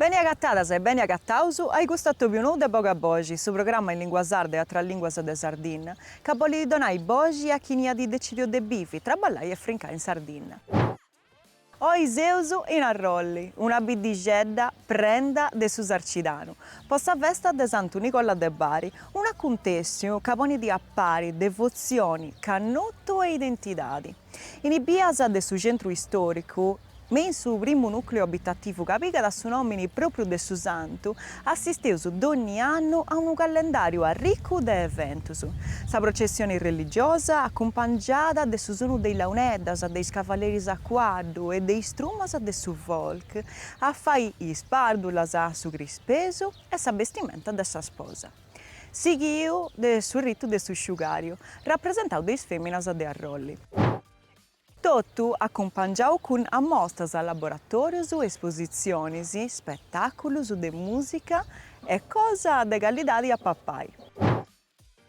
Beni agatadas e beni agataus ai custu atobiu nou de Boga Boxi, su programma in lingua sarda e atras linguas de Sardinna, ca bolit donai boxi a chini at decidiu de bivi, traballai e frincai in Sardinna. Oi seus in Arrolli, una biddixedda prenda de su Sarcidanu, po sa festa de Santu Nicola de Bari, un'acuntèssiu ca ponit a pari devotzioni, cannutu e identidadi. In is bias de su centru istòricu, me in su primu nùcleu abitativu ca pigat su nòmini pròpriu de su santu, assisteus dònni annu a unu callendàriu arricu de eventus, sa processioni religiosa acumpangiada de su sonu de is launeddas, de is cavaleris a cuaddu e de is trumas de su folk a fai is pàrdulas, su crispesu e sa bestimenta de sa sposa, sighiu de su ritu de su sciugàriu, rapresentau de is fèminas de Arrolli. Totu acumpangiau cun ammostas, laboratorius, espositzionis, spetàculus de mùsica e cosa de callidadi a papai.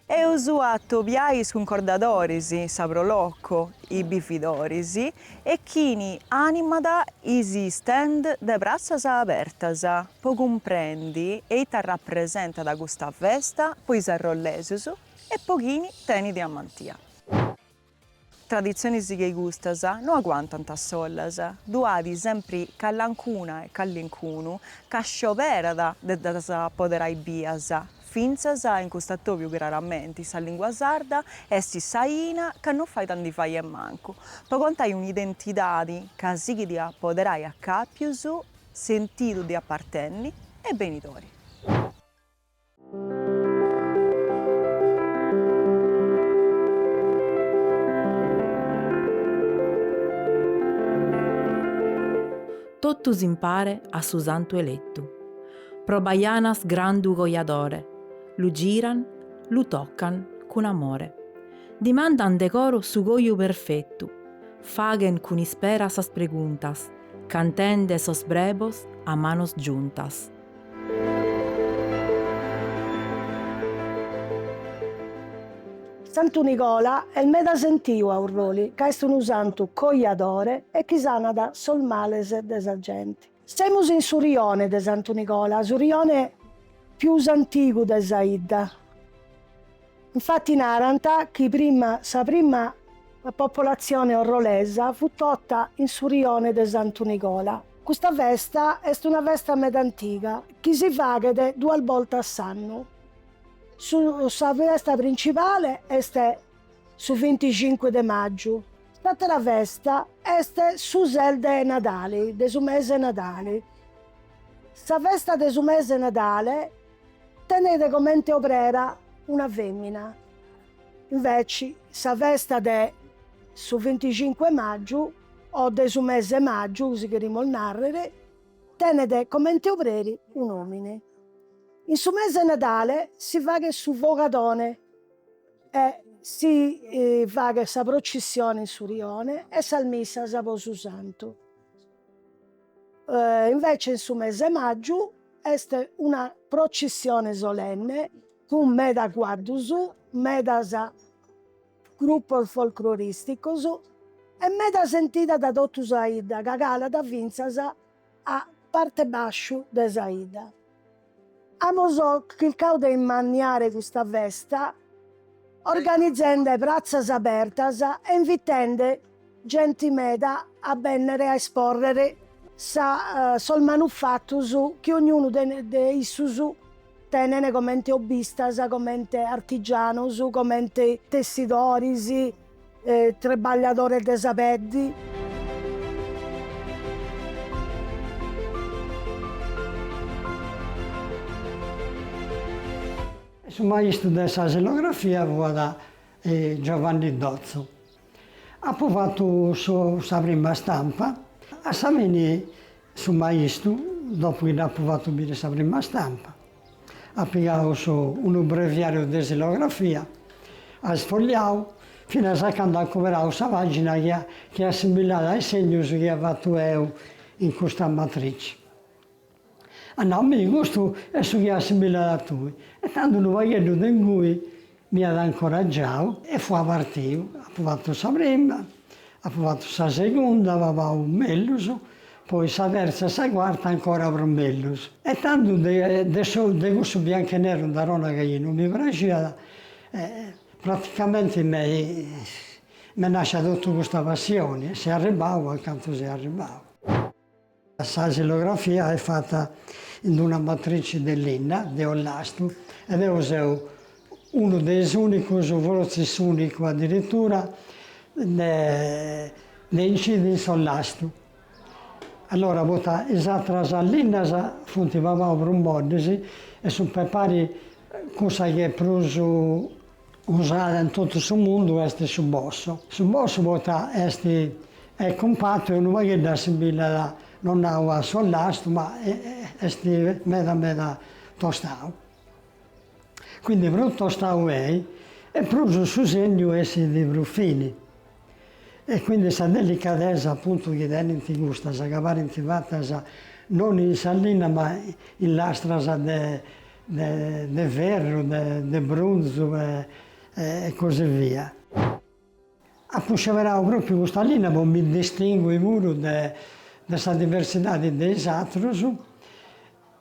Eus a atobiai is cuncordadoris, sa Pro Loco, is bividoris e chini animat is stand de Pratzas Abertas po cumprendi eita rapresentat custa festa po is arrollesus e po chini tenit amantia. Traditzionis che custas no aguantant a solas, ddu at sempri callancuna e callincunu ca scioberat de ddas apoderai bias, fintzas in cust'atobiu craramenti sa lìngua sarda est s'aina ca no fait a ndi fai a mancu, po contai un'identidadi ca sighit a apoderai acàpius sentidu de apartenni e benidori. Totus impare a su Santu Elettu. Pro Baianas grandu cojadore, lu giran, lu tocan cun amore. Dimandan de coro su coju perfettu, faghen cun ispera sas preguntas, cantende sos brebos a manos giuntas. Santu Nigola est meda sentiu a Urroli ca est unu santu coiadore e chi sanat sos males de sa genti. Semus in su rione de Santu Nigola, su rione pius antigu de sa 'idda. Infati narant chi prima sa prima popolatzione orrolesa fut tota in su rione de Santu Nicola. Custa festa est una festa meda antiga chi si faghet duas bortas s'annu. Su sa festa principale est su vinticincu de màgiu, s'àtera festa est su ses de Nadale, de su mese 'e Nadale. Sa festa de su mese 'e Nadale Tenede comente obrera una femina. Inveci sa festa de su vinticincu 'e màgiu, o de su mese 'e màgiu, si cherimus nàrrere, tenede comente obreri un'òmine. In su mese 'e Nadale si faghet su fogadone e si faghet sa procissione in su rione e sas missas po su Santu. Invece in su mese 'e màgiu est una procissione solenne cun meda cuaddus, medas grupos folclorìsticos e meda sentida dae totu sa 'idda ca calat fintzas a parte bàsciu de sa 'idda. Amus chircau de immanniare custa festa organizende pratzas abertas e invitende genti meda a bennere a esporrere sa sos manufatus chi ognunu de issus tenene comente hobbistas, comente artigianus, comente tessidoris. Trebagliadores de sa peddi. Su maistu de sa silografia fuat Giovanni Dotzo. Apu fatu sa prima stampa, a sa fini su maistu, dopu chi dd'apu fatu biri sa prima stampa, At pigau unu breviariu de silografia, at sfogliau finas a candu at cuberau sa pagina chi chi assimilada a is segnus chi ia fatu eu in custa matrici. At nau, mi, custu est su chi assimilada a tui. E tandu unu pagheddu de ingui M'iat incoragiau e fua partiu. Apu fatu sa prima, apu fatu sa segunda, pagu pagu mellus, poi sa terza e sa cuarta ancora prus mellus. E tando de su de cussu biancu e neru torru a nai chi non mi praxiat, praticamenti me m'est nàscia totu custa passioni e seu arribau a cantu seu arribau. Sa xilografia est fata in una matrici de linna de ollastu e deu seu unu de is ùnicus, fortzis s'ùnicu adiritura, de incidi in s'ollastu. Allora poita is atras linnas funt pabaus prus moddis e sunt pe pari cussa chi est prus Usada in totu su mundu est su bosso. Su bosso poita est est cumpatu e unu pagheddu assimbillat, no nau a s'ollastu, ma est meda meda tostau. Quindi prus tostau est e prus su segnu essit prus fini. E quindi sa delicadesa appuntu chi tenint custas ca parint fatas non in sa linna ma in lastras de de ferru, de brunzu e così via. Apu sceberau propriu custa linna po mi distingui puru de sa diversidadi de is atrus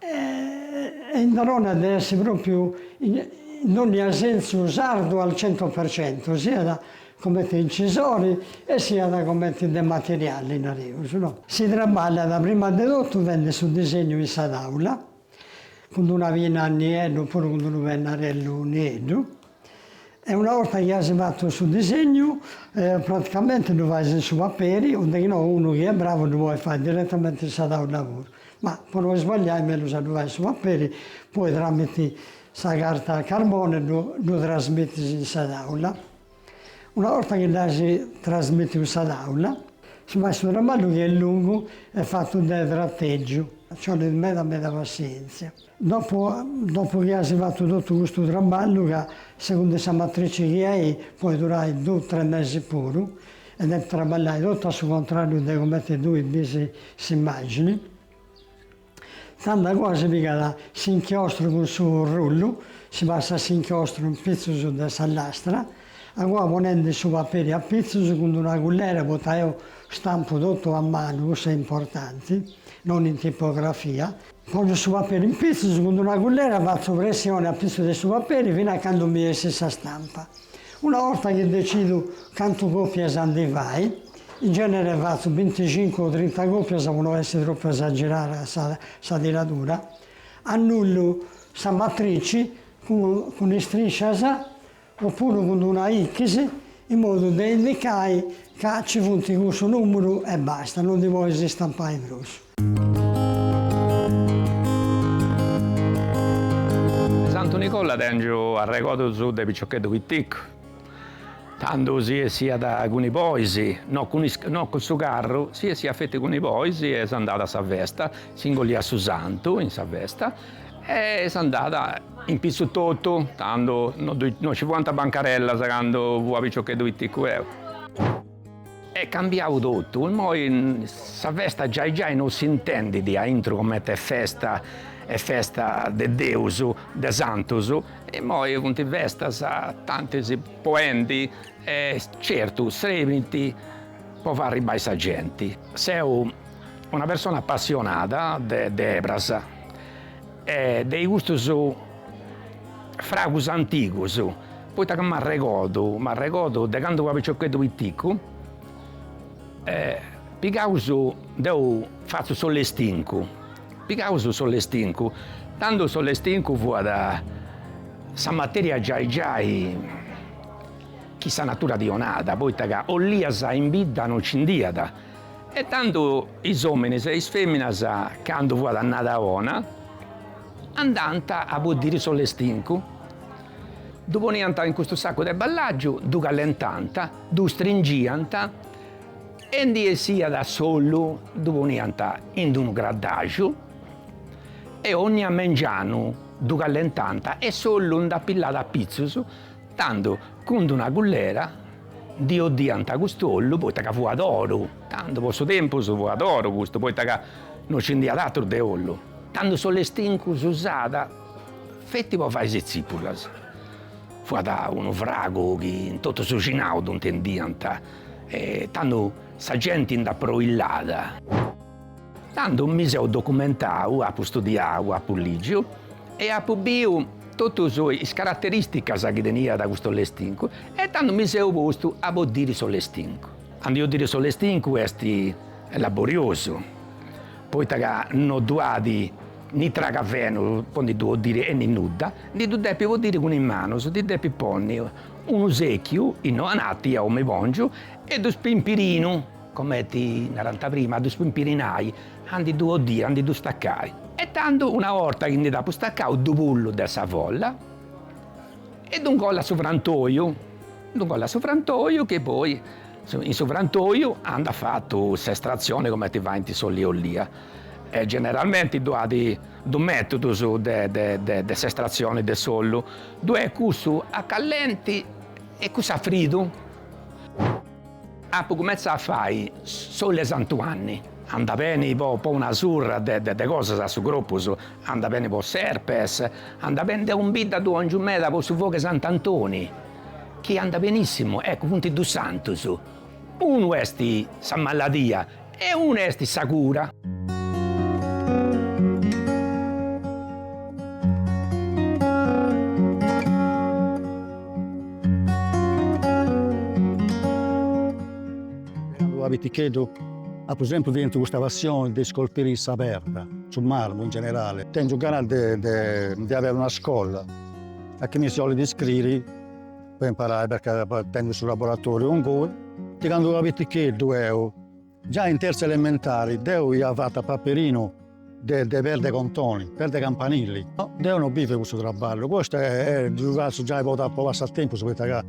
E in Verona de essi propriu in dogna sensu sardu al centu per centu, siat comenti incisori e siat comenti de materiali, nareus, no. Si traballat prima de totu fendi su disegnu in sa taula, cun d'una pinna a nieddu oppuru cun d'unu pennarellu nieddu. E una 'orta chi as fatu su disegnu, praticamenti ddu fais in su paperi, o de chi no unu chi est bravu ddu podit fai direttamenti in sa taula puru, ma po no isbagliai mellus a ddu fai in su paperi, poi tramiti sa carta a carboni ddu ddu trasmitis in sa taula. Una 'orta chi dd'as trasmitiu in sa taula, si fait su traballu chi est lungu e fatu de trategiu, nci 'olit meda meda passienzia. Dopu dopu chi asi fatu totu custu traballu ca segundu is sa matrici chi ei poi durai du tres mesi puru e depis traballai totu a su contrariu de cumenti tui bisi s'immagini tanda a cua si pigat s'inchiostru cun su rullu si passat s'inchiostru in pitzus de sa lastra a cua ponendi su paperi a pitzus cun d'una cullera poita eu stampu totu a manu cuss'est importanti non in tipografia Pongiu su paperi in pitzus, cun d'una cullera fatzu pressioni a pitzu de su paperi fina a candu mi essit sa stampa. Una borta chi decidu cantu copias ndi fai, in genere fatzu binticincu o trinta copias po no essi tropu esagerada sa sa tiradura, annullu sa matrici cun cun istriscias o puru cun d'una X, in modu de indicai ca ci funt cussu nùmeru e basta, no ndi podis istampai prus. De Santu Nicola tèngiu arregodus de piciocheddu piticu, tando si 'essiat cun is bois, no cun is no cun su carru, si 'essiat feti cun is bois e s'andàt a sa festa, si ingolliat su santu in sa festa E s'andàt in pitzu totu, tando no ddu no ci fuant bancarellas cando fua piciocheddu piticu eu. Est cambiau totu, immoi sa festa giai giai no s'intendit a intru comente est festa, est festa de Deus, de santus, immoi funt festas tantis po 'endi e certu srebint po fai arribbai sa genti. Seu una persona appassionada de de ebras e de i custus fragus antigus, poita ca m'arregordu m'arregordu de candu fia piciocheddu piticcu e pigaus, deu fatzu s'ollestincu, pigaus s'ollestincu, tando s'ollestincu fuat sa materia giai giai chi sa natura ti 'onàt, poita ca olias in bidda non nci nd'iat E tando is ominis e is feminas, cando fuat annada 'ona, andànt a boddiri s'ollestincu, ddu poniant in custu saccu de ballàgiu, ddu callentànt, ddu stringìant e ndi essiat s'ollu, ddu poniant in d'unu craddaxu e ognia mengianu ddu callentànt e s'ollu nd'apillàt apitzus, Tando cun d'una cullera ndi 'oddiant cust'ollu poita ca fuat oru, tando po su tempus fuat oru custu poita ca no nci nd'iat atru de ollu, tando s'ollestincu s'usàt feti po fai is tzipulas, fuat unu fragu chi in totu su cinau ddu 'ntendiant e tando sa genti nd'aproillàt. Tando mi seu documentau, apu studiau, apu lìgiu e apu biu totus is caraterìsticas chi teniat custu lestincu e tando mi seu postu a boddiri s'ollestincu. Ca a ndi 'oddiri s'ollestincu est laboriosu, poita ca no ddu at ni tragavenu po ndi ddu 'oddiri e ni nudda, ndi ddu depis boddiri cun is manus, ndi depis ponni unu sèchiu, innoi ananti, eu mi pòngiu, e ddu spimpirinu. Comenti narant prima, a ddus pimpirinai, a ndi ddu 'oddiri, a ndi ddu stacai. E tandu una 'orta chi ndi dd'at stacau ddu pullu de sa folla e ddu ingollit a su frantoiu, ddu ingollit a su frantoiu chi poi in su frantoiu ant a fai totu s'estratzioni comenti faint s'oll'e olia. E generalmenti ddu at dus metudus de de de s'estratzioni de s'ollu, ddue est cussu a callenti e cussu a fridu. Apu cumentzau a fai s'ollu 'e Santu Anni, andat beni po po una surra de de cosas a su croppus, andat beni po s'herpes, andat beni, deu ndi dda dongiu meda po su fogu 'e Sant'Antoni, chi andat benissimu, eccu funt dus santus, unu est sa maladia E una est sa cura. Candu fia piticheddu apu sempri tentu custa passioni de iscolpiri sa perda, su marmu in generali. Tengiu ganas de de de averi una scolla a chini si 'olit iscriri. po imparai perchè tengu su laboratoriu ingui, de candu fia piticheddu eu, già in terza elementari deu ia fata a paperinu de de perda 'e contoni, perda 'e campanili, deu no bivu 'e cussu trabballu, custu ddu fatzu giai po passatempusu poita ca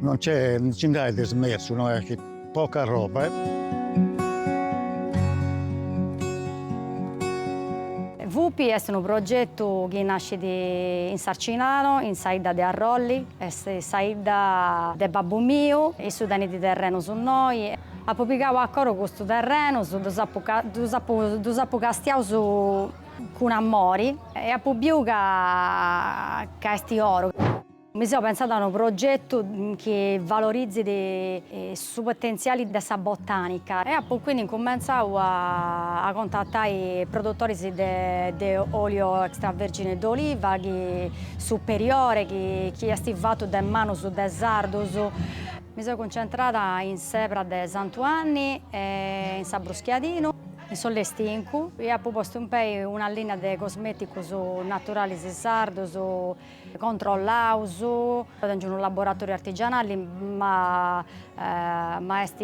non nc'est, non nci nd'at de smerzu, no est chi Poca arroba eh. Vupi est unu progetu chi nascit in Sarcidanu, in sa 'idda de Arrolli, est sa 'idda de babbu miu, issu tenit terrenus innoi, apu pigau a coro custus terrenus, ddus apu ddus apu ddus apu castiaus cun amori e apu biu ca ca est oru. Mi seu pentzada a unu progetu chi valorizit su potentziali de sa botànica e apu quindi incumentzau a contatai produtoris de olio extravergine d'oliva chi superiore chi est fatu de manus de sardus. Mi seu cuncentrada in s'Ebra de Santu Anni e in s'Abruschiadinu, in su Lestincu e apu postu in pei una linea de cosmeticus naturalis sardus Controllaus, tengiu unu laboratoriu artigianali ma ma est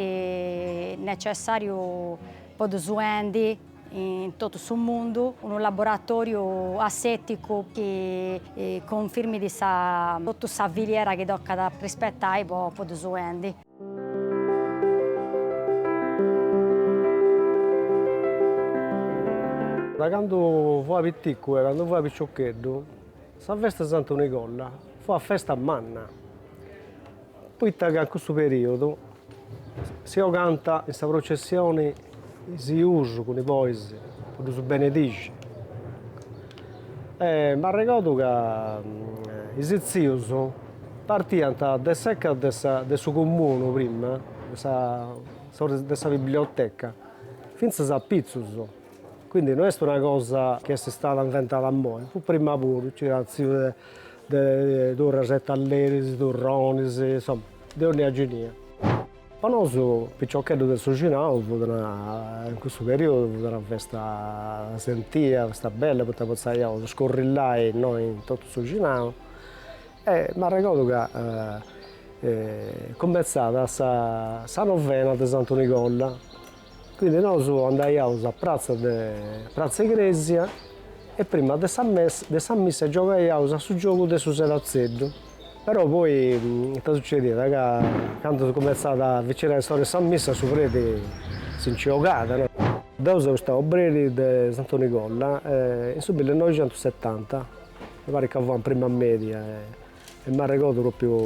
necessariu po ddus 'endi in totu su mundu unu laboratoriu asseticu chi cunfirmit sa totu sa filiera chi tocat a rispettai po ddus 'endi. Da candu fua piticu e candu fua piciocheddu sa festa 'e Santu Nicola fuat festa manna, poita ca in cussu periodu si 'ogant in sa processioni Is jus cun is bois po ddus benedixi. E m'arregordu ca is tzius partiant de s'eca de su Comunu prima, de sa biblioteca, fintzas apitzus, quindi no est una cosa chi est istada inventada immoi, fut prima puru, nci fiant tzius de turras e talleris, turronis, insoma, de onnia ginia. Po nosu piciocheddus de su Cinau fut una, in cussu periodu fut una festa sentia, festa bella poita potzaiaus scorrillai innoi in totu su Cinau e m'arregordu ca cumenzat sa novena de Santu Nicolla Quindi nosu andaiaus a pratza de pratza igresia e prima de sa missa giogaiaus a su giogu de su sedatzeddu, però poi ita sucediat ca candu cumentzat a avicinai s'ora 'e sa missa su preti si nci 'ogàt no. Deu seu istau obreri de Santu Nicolla in su millinoixentusetanta mi parit ca fua in prima media E m'arregordu propriu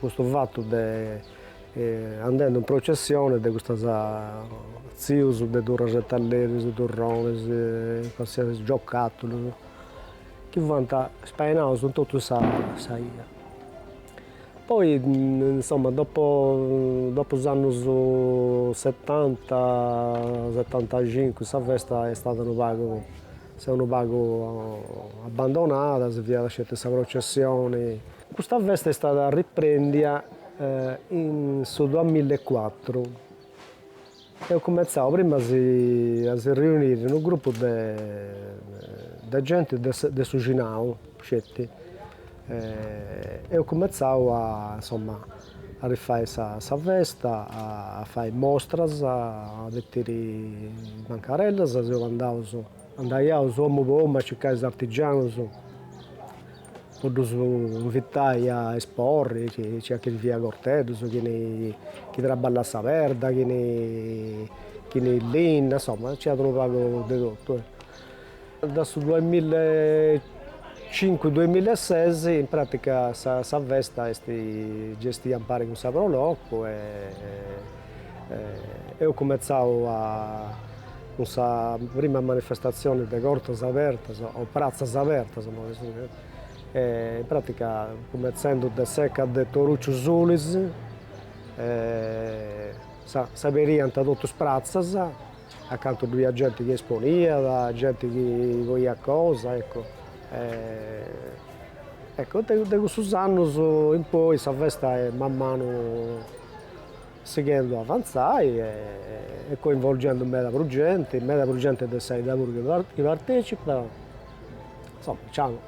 custu fatu de andendu in processione de custas tzius de turras e talleris, turronis, qualsiasi, giocatulus, chi fuant ispainaus in totu sa sa 'ia. Poi insomma dopo is annus setanta, setantacincu sa festa est istada unu pagu S'est unu pagu abbandonada, si fiat sceti sa processioni. Custa festa est istada arriprendia in su duas milla e cuatru. Eus cumentzau prima a si riuniri unu grupu de genti de su Cinau sceti E eus cumentzau a insomma a rifai sa festa, a fai mostras, a betiri bancarellas, seus andaus, andaiaus omu po omu a circai is artigianus po ddus invitai a esporri, nc'iat chi fiat corteddus, chini chi traballat sa perda, chini linna, insomma nc'iat unu pagu de totu Da su duamilla e cincu duamilla e ses in pràtica sa festa est gestia impari cun sa Pro Loco e eus cumentzau cun sa prima manifestatzioni de cortas abertas o pratzas abertas, in pràtica cumentzendu de s'eca de Toruciu Sulis, s'aberiant totus is pratzas Acantu ddu iat genti chi esponiat, genti chi coiat cosa, ecco. Ecco, de cussus annus in poi sa festa est man manu sighendu a avantzai e coinvolgendu meda prus genti, meda prus genti de sa 'idda puru chi partecipat. Insoma, nc'ant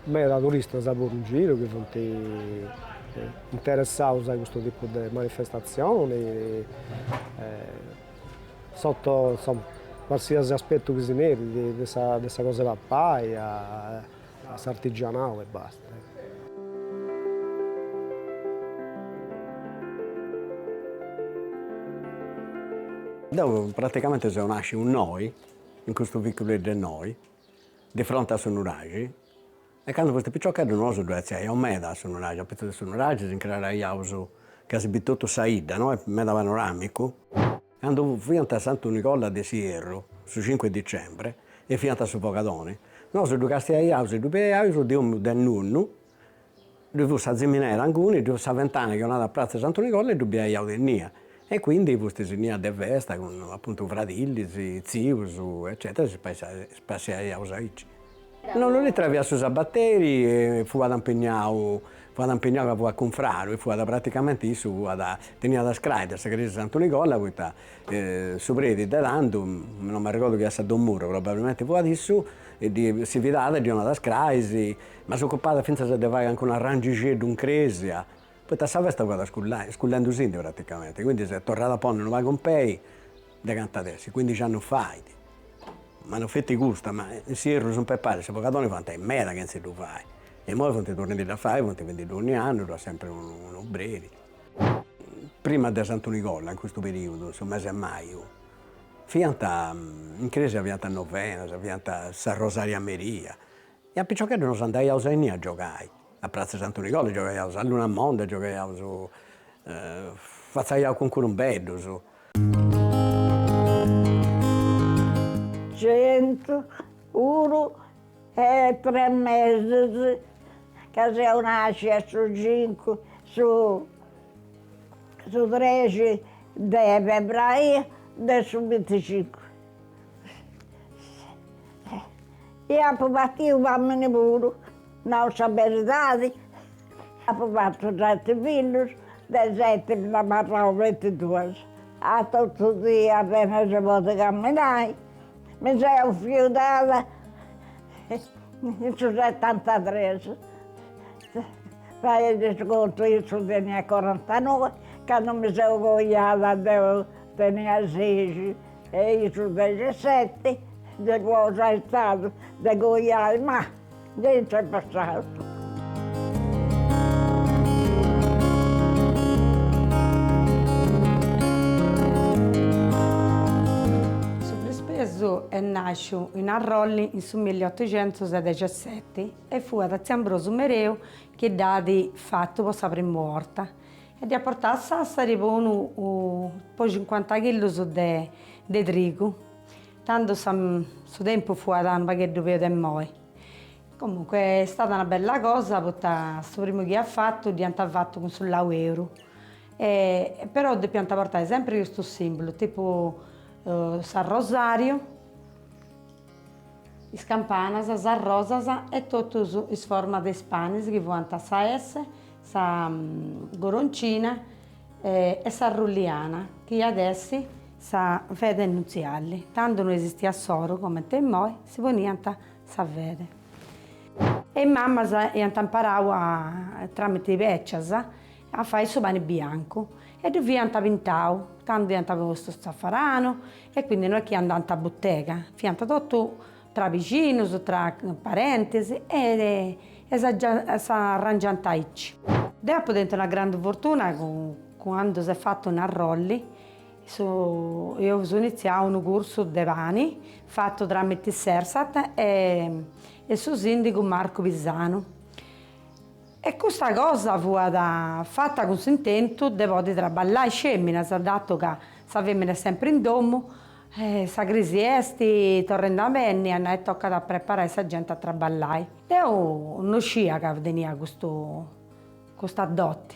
meda turistas puru in giru chi funt interessaus a custu tipu de manifestatzioni Soto insoma quarsiasi aspetu chi si nerit, de sa de sa cosa 'e papai a a s'artigianau e basta. Deu praticamente seu nàsciu innoi, in custu viculedd'e innoi, di fronte a su nuraxi E candu fustis piciocheddus nosu ddu artziaiaus meda a su nuraxi, a pitzus de su nuraxi si ncraraiaus ca si bit totu sa 'idda, no? Est meda panoramicu. Candu fiant a Santu Nicola de s'Ierru, su cincu 'e dicembre, e fiant su fogadoni, nosu ddu castiaiaus e ddu biaiaus de omu de nonnu, ddu fut sa ziminera inguni, ddu fut sa fentana chi 'onat a pratza 'e Santu Nicola e ddu biaiaus innia, e quindi fustis innia de festa cun apuntu fradillis, tzius eccetera e si spassiaiaus aici Nonnu Litera fiat su sabateri e fuat impegnau fuat impegnau ca fuat cunfraru e fuat praticamenti issu fuat teniat is crais de sa crèsia 'e Santu Nicola poita su preti de tando no m'arregordu chi at essi don Murru probabilmente fuat issu e si fidàt e ddi 'onàt is crais, ma s'ocupàt fintzas de fai calincunu arrangixeddu in crèsia poi sa festa fuat iscullai iscullendusindi praticamenti quindi s'est torrada a ponni unu pagu in pei de cant'at essi, cuindixi annus fait, ma no feti custa, ma in s'ierru sun peparis, su fogadoni fuant meda chentz''e ddu fai, e imoi funt torrendiddu a fai, funt fendiddu ogni annu, dd'at sempri un'obreri. Prima de Santu Nicola, in custu periudu, in su mesi 'e maju, fiant in cresia fiant novenas, fiant s'arrosariu a merì, e a piciocheddus nos andaiaus innia a giogai, a Pratza 'e Santu Nicola giogaiaus a Lunamonda, giogaiaus fatzaiaus cucurumbeddus Centu unu e tres mesis ca seu nascia su cincu su su trexi de febraio de su binticincu e apu patiu famini puru Nau sa beridadi, apu fatu seti fillus, de is seti mi nd'at abarrau feti duas. A totu dì apena si podit camminai, mi seu fiudada in su setantatres, fadei su contu, issu teniat corantanoi, candu mi seu coiada deu tenia sexi e issu dexeseti, de cosa est istadu de coiai, ma Gei nc'est passau. Su prispesu est nàsciu in Arrolli in su milliotocentusdexeseti e fuat tziu Ambrosu Mereu chi dd'at fatu po sa primu 'orta e dd'iat portau a Sàssari po unu po cincuanta chillus de trigu. Tandu su tempus fuat unu pagheddu peus de moi. Comunque est stata una bella cosa poita su primu chi at fatu dd'iant fatu cun su lau 'eru e però depiant portai sempri custu simbulu tipu s'arrosariu, is campanas, sas rosas e totus is formas de is panis chi fuant sa S, sa coroncina E sa rulliana chi iat essi sa fede nutziali. Tandu no esistiat s'oru comente immoi, si poniant sa fede. E is mamas iant imparau a, tramite is becias, a fai su pani biancu e ddu fiant pintau, tandu iant postu zafaranu e quindi no est chi andant a butega, fiant totu tra bixinus, tra parentis e s'arrangiant aici. Deu apu tentu una grandu fortuna candu s'est fatu in Arrolli, eus initziau unu cursu de pani fatu tramite s'Ersat e su sindigu Marcu Pisanu e custa cosa fuat fata cun s'intentu de podi traballai is feminas, dato ca sa femina est sempri in domu E sa crisi est torrendi a benni, at nau tocat a preparai sa genti a traballai. Deu no scia ca tenia custu custa doti.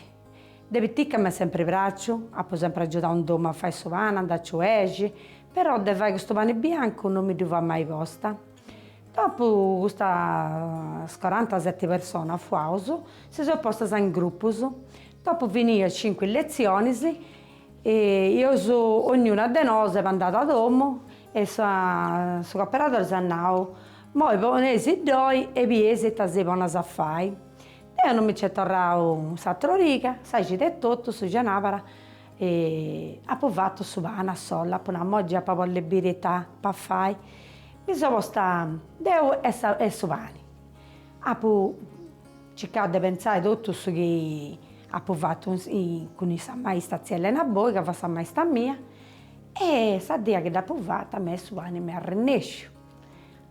De piticca m'est sempri pràxiu, apu sempri agiudau in domu a fai su pani, andai a ciuexi, però de fai custu pani biancu no mi ddui fua mai posta. Dopu custas coranta seti personas fuaus, si seus postas in grupus, dopu finiu cincu lezionis, E seus ognuna de nosu andada a domu e su cooperadori s'at nau, Moi poneisiddoi e bieis ita si poneis a fai. Deu non mi nci est torrau s'atra origa, sa cida etotu, su cenabara, e apu fatu su pani a sola, apu nau, Moi già apu a bolli biri ita apu a fai. Mi seu posta deu e su pani. Apu Circau de pentzai totu su chi apu fatu cun issa maista tzia Elena Boi, ca fiat sa maista mia, e sa die chi dd'apu fatu mi su pani m'est arrennesciu.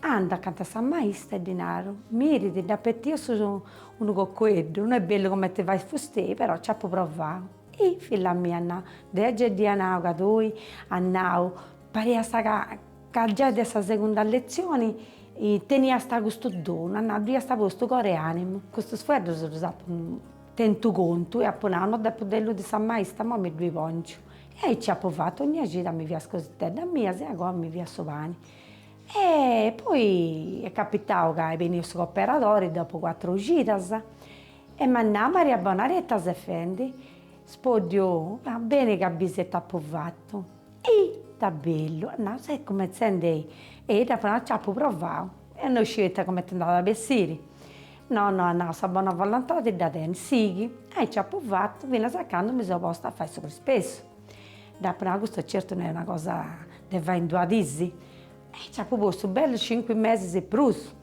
Andu acanta a sa maista e ddi naru, miridì, dd'apu petiu unu cocueddu, no est bellu comenti fait fustei, però nci apu provau. Hi, filla mia, at nau, deu gei dd'ia nau ca tui, at nau, pariasta ca Ca giai de sa segunda letzioni teniasta custu donu, at nau, ddu iasta postu coro e animu. Custus fueddus ddus apu tentus a contu e apu nau, no depu deludi sa maista, imoi mi ddui ponciu. E aici apu fatu ognia cida, mi fia is cositeddas mias, agoa mi fia su pani. E poi est capitau ca est beniu su cooperadori dopu cuatru cidas e m'at nau, Maria Bonara e ita ses fendi? Spoddiu, beni ca bis ita apu fatu. E ita bellu, at nau, ses cumentzende a ddu fai, nc'apu provau e no sciu ita cumenti nd'at a bessiri. No, no, at nau, sa bona volontadi dda tenis, sighi. E nc'apu fatu finas a candu mi seu postu a fai su prispessu. Dd'apu nau, custa certu no est una cosa de fai in duas dis. E nc'apu postu bellus cincu mesis e prus,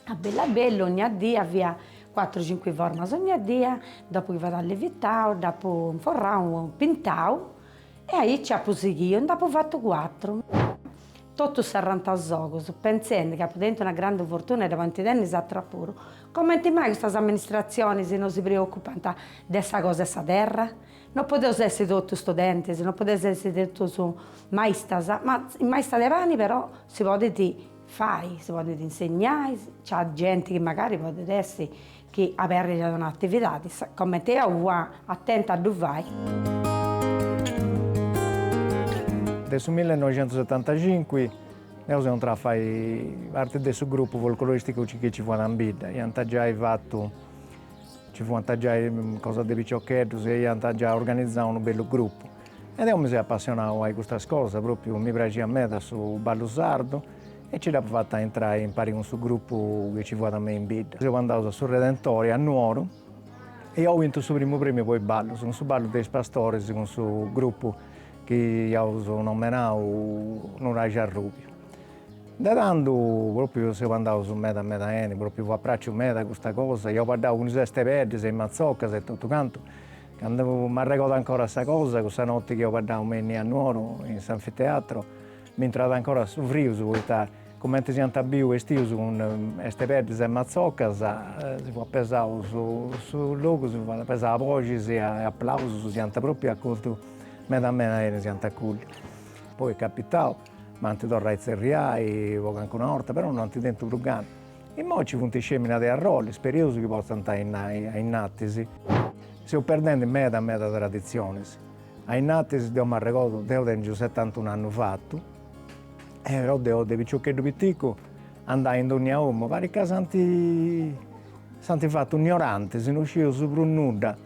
a bellu a bellu, ogna dì fia cuatru cincu formas ogna dì, dopu chi fut allevitau dd'apu inforrau, pintau E aici apu sighiu e nd'apu fatu cuatru. Totus serrantasogus, pentzendi chi apu tentu una grandi fortuna e dda podint tenni is atrus puru. Comenti mai custas amministratzionis no si preocupant de sa cosa 'e sa terra? No podeus essi totus studentis, no podeus essi totus maistas, ma maista de pani però si podit fai, si podit insegnai, nc'at genti chi magari podit essi chi aberrit un'atividadi comente deu fua atenta a ddu fai. De su millenoixentusetantacincu seus intraus a fai parti de su grupu folcloristicu chi nci fuat in bidda, iant giai fatu, ci fuant giai cosas de piciocheddus e iant giai organizau unu bellu grupu. E deu mi seu apassionada a-i custas cosas, propriu mi praxiat meda su ballu sardu e nci dd'apu fata a intrai impari cun su gruppu chi nci fuat me in bidda. Seus andaus a su Redentore a Nuoru e iau bintu su primu premiu po-i ballus, cun su ballu de is pastoris cun su gruppu chi iaus nomenau Nuraxi Arrubiu. De tandu propriu seus andaus meda meda 'eni, propriu fuat praxiu meda custa cosa, iaus baddau cun is bestepeddis e is matzoccas e totu cantu Candu m'arregodu ancora sa cosa, cussa noti chi eus baddau me innia a Nuoro in s'anfiteatro, m'intrat ancora su frius poita cumenti s'iant biu bestius cun estepeddis e matzocas, si fuat pesau su logu, si fuat pesau a boxis e applausus, s'iant propriu acoltu meda meda 'eni s'iant acoltu. Poi est capitau, m'ant torrau a itzerriai po cancuna 'orta, però no ant tentu prus gana Imoi ci funt is fèminas de Arrolli, spereus chi potzant andai innatis. Seus perdendi meda meda traditzionis. A innatis deu m'arregodu, deu tèngiu setantunu annus fatu, e però deu de piciocheddu piticu andà in dònnia omu, parit ca s'ant s'ant fatu ignorantis, no scius prus nudda.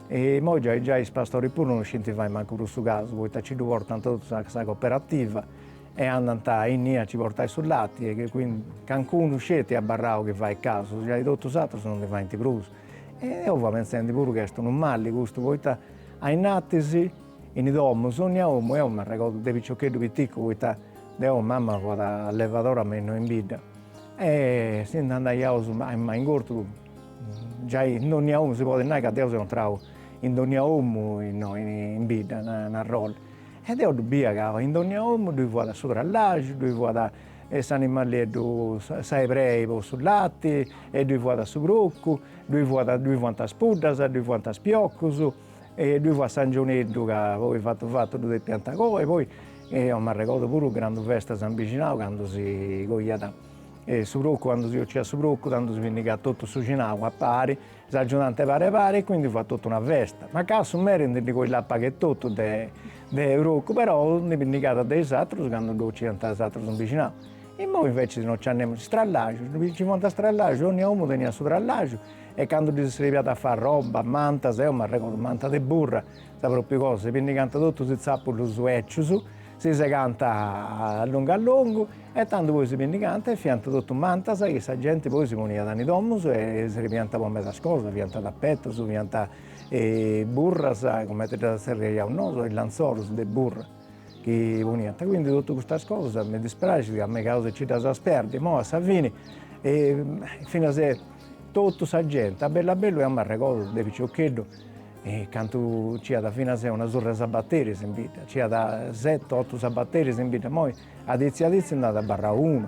Imoi giai giai is pastoris puru no scint fai mancu prus su casu, poita ci ddu portant totu a sa cooperativa e andant a innia a ci portai su lati e quindi cancunu nc'est abarrau chi fait casu giai totu is atrus non ndi faint prus e deu fua pentzendi puru chi est unu mali custu poita a innatis in domus onnia omu e eo m'arregordu de piciocheddu piticu poita deu mama fuat levadora me innoi in bidda e si nd'andaiaus a in gortu giai in donnia omu si podit nai ca deu seu intrau in donnia omu innoi in bidda in Arrolli E deo ddu bia ca in dònnia omu ddoi fuat su trallaxu, ddoi fuat s'animalieddu, sa ebrei po su lati, e ddoi fuat su procu, ddoi fuat, ddoi fuant is puddas, ddoi fuant is piocus, e ddoi fuat s'angioneddu ca poi fatu fatu ddu depiant coi, poi eo m'arregordu puru grandu festas in bixinau candu si coiat su procu, candu si 'ociat su procu, tando si pinnigat totu su 'ixinau a pari S'agiudànt pari pari e quindi fut totu una festa. Ma ca su meri ndi ddi coilàt pagu etotu de de procu, però ndi pinnigat de is atrus candu ddu ociant is atrus in bixinau. Immoi inveciis no nci at nemus. Is trallaxus, ndi nci fuant is trallaxus, onnia omu teniat su trallaxu e candu ddi srebiat a fai arroba, mantas, eo m'arregordu manta de burra, sa propriu cosa, si pinnigant totus is tzapulus becius, Si segànt a longu a longu e tando poi si pindigànt e fiant totu mantas chi sa genti poi si poniat in is domus e srebiànt po medas cosas, fiant tapetus, fiant burras, cumenti ddas tzerriaiaus nosu, is lanzoros de burra chi poniant, quindi totu custas cosas mi dispraxit ca megaus a nci ddas perdi, imoi a sa fini finas totu sa genti a bellu a bellu eu m'arregordu de piciocheddu E candu nci iat finas e una surra 'e sabateris in bidda, nci iat seti otu sabateris in bidda, imoi aditzi aditzi nd'at abarrau unu,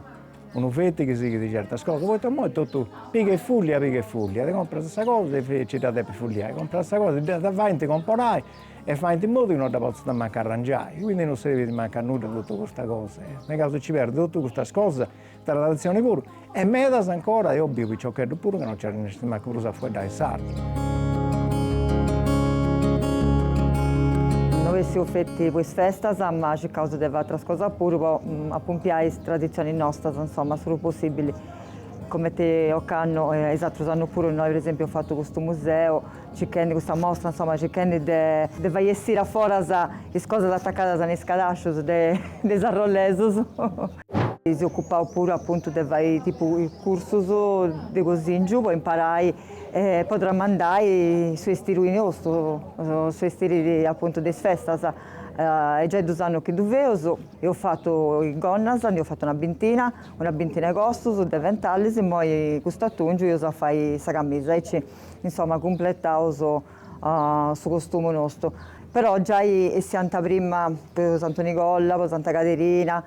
unu feti chi sighit certas cosas, poita imoi est totu piga e fullia, piga e fullia, ti comporas sa cosa e nci dda depis fulliai, comporas sa cosa, dda faint comporai e faint in modu chi non dda potzat mancu arrangiai, quindi non serbit mancu a nudda totu custa cosa, e megaus a nci perdi totu custas cosas Traditzioni puru e medas ancora deu biu piciocheddus puru chi no nci arrennescint mancu prus a fueddai sardu. No bessius feti po is festas ma circaus de fai atras cosas puru po apompiai is traditzionis nostas insoma su prus possibili comenti ocannu e is atrus annus puru innoi per esempiu eus fatu custu museu circhendi custa mostra insoma circhendi de de fai essiri aforas is cosas atacadas in is cadascius de is arrolesus Si ocupaus puru apuntu de fai tipu cursus de cosìngiu po imparai e po tramandai su estiri nostu, su estiri apuntu de is festas. Est giai dus annus chi ddu feus, eus fatu is gonnas, nd'eus fatu una bintina, una bintina 'e cossus, deventalis, immoi cust'atòngiu eus a fai sa camisa aici insoma cumplettaus su costumu nostu, però giai essiant prima po Santu Nigola, po Santa Caderina,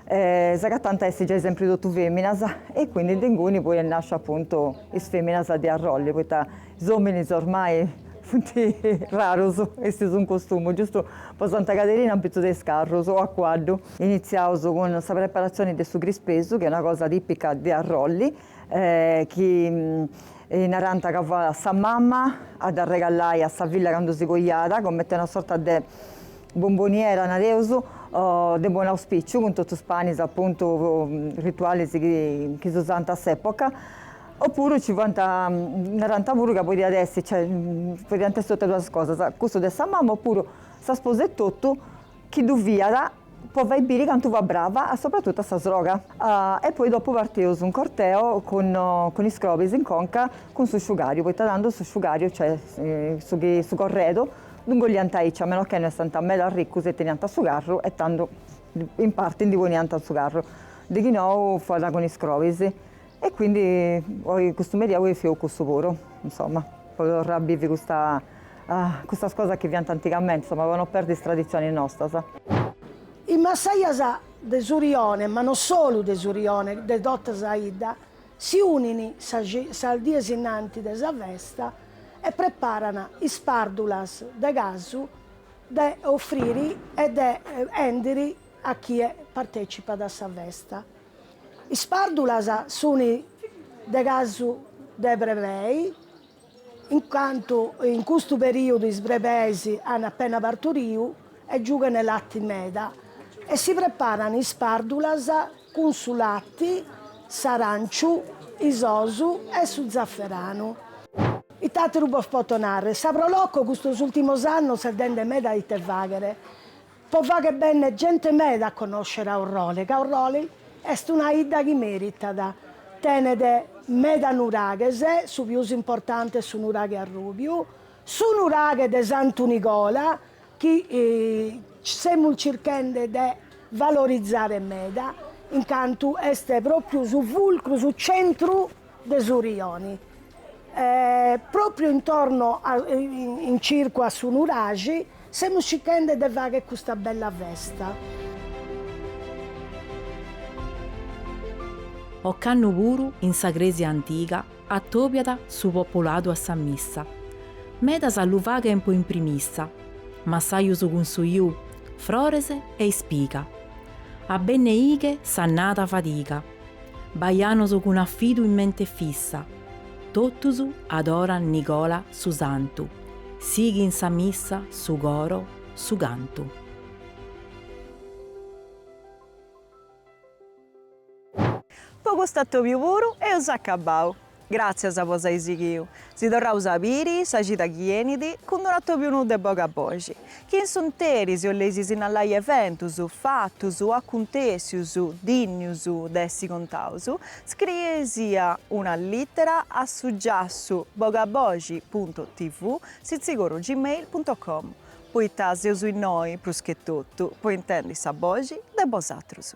s'agatant a essi giai sempri totu feminas e quindi de inguni poi est nasciu appuntu is feminas de Arroli, poita is ominis ormai funt rarus a essi in costumu, giustu po Santa Caderina apitzu de is carrus o a cuaddu. Initziaus cun sa preparazioni de su crispesu chi est una cosa tipica de Arroli chi narànt ca fuat sa mama a dd'arregallai a sa filla candu si coiat, comente una sorta de bomboniera, nareus, de buon'auspìciu, cun totus is panis apuntu ritualis chi s'usànt a s'època. O puru nci fuant, narànt puru ca podiat essi, cioè podiant essi totus duas is cosas, custu de sa mama o puru sa sposa etotu Chi ddu fiat po fai biri cantu fut brava sopratutu a sa sroga. E poi dopu partius in corteo cun is crobis in conca cun su sciugariu, poita tandus su sciugariu, cioè su corredu ddu ingolliant aici, a meno che no fessant meda arricus e teniant su carru e tandu in parti ndi poniant su carru, de chi nou fuat cun is crobis E quindi oi custu merì eus a fai cussu puru, insomma, po torrai a bivi custas cosas chi fiant antigamenti, insomma, po no perdi is traditzionis nostas. Is massajas de su rione, ma no solu de su rione, de totta sa 'idda, si unin sas dies innanti de sa festa e preparan is pardulas de casu de offrire e de 'endere a chie partecipat a sa festa. Is pàrdulas sunt de casu de brebei, in cantu in custu perìodu is brebeis ant apena parturiu e giughent lati meda, e si preparant is pàrdulas cun su lati, s'arànciu, is osu e su zaferanu. Ite àteru bos poto nàrrere, sa Pro Loco custos ùrtimos annos si est dende meda ite fàghere, Po fagher bènnere gente meda a connoscere Aurroli, ca Aurroli est una 'idda chi mèritat, tenet meda nuraghes, su pius importante est su nuraghe Arrùbiu, su nuraghe de Santu Nigola, chi semus circhende de valorizare meda, in cantu est pròpiu su fulcru, su centru. de su rioni pròpriu intorno in circu a su nuraxi semus sighende de fagher custa bella festa. Ocannu puru in sa crèsia antiga atòbiat su populadu a sa missa. Medas lu faghen po impromissa, massajos cun su ju, frores e ispiga. A benneighè s'annada 'e fadiga. Baianos cun afidu in mente fissa, totus adoran Nigola su Santu, sighint sa missa, su coro, su cantu. Po cust'atòbiu puru eus acabau. Gràtzias po s'ai sighiu. Si torraus a biri sa cida chi 'enit cun d'unu atòbiu nou de Bogaboxi, chi in su 'nteri si 'olleis sinnalai eventus, fatus o acuntèssius dìnnius de essi contaus, scriei-sì una lìtera a su giassu bogaboxi punto tv sitzigoro gmail punto com, poita seus innoi, prus che totu, po intendi sa boxi de bosatrus.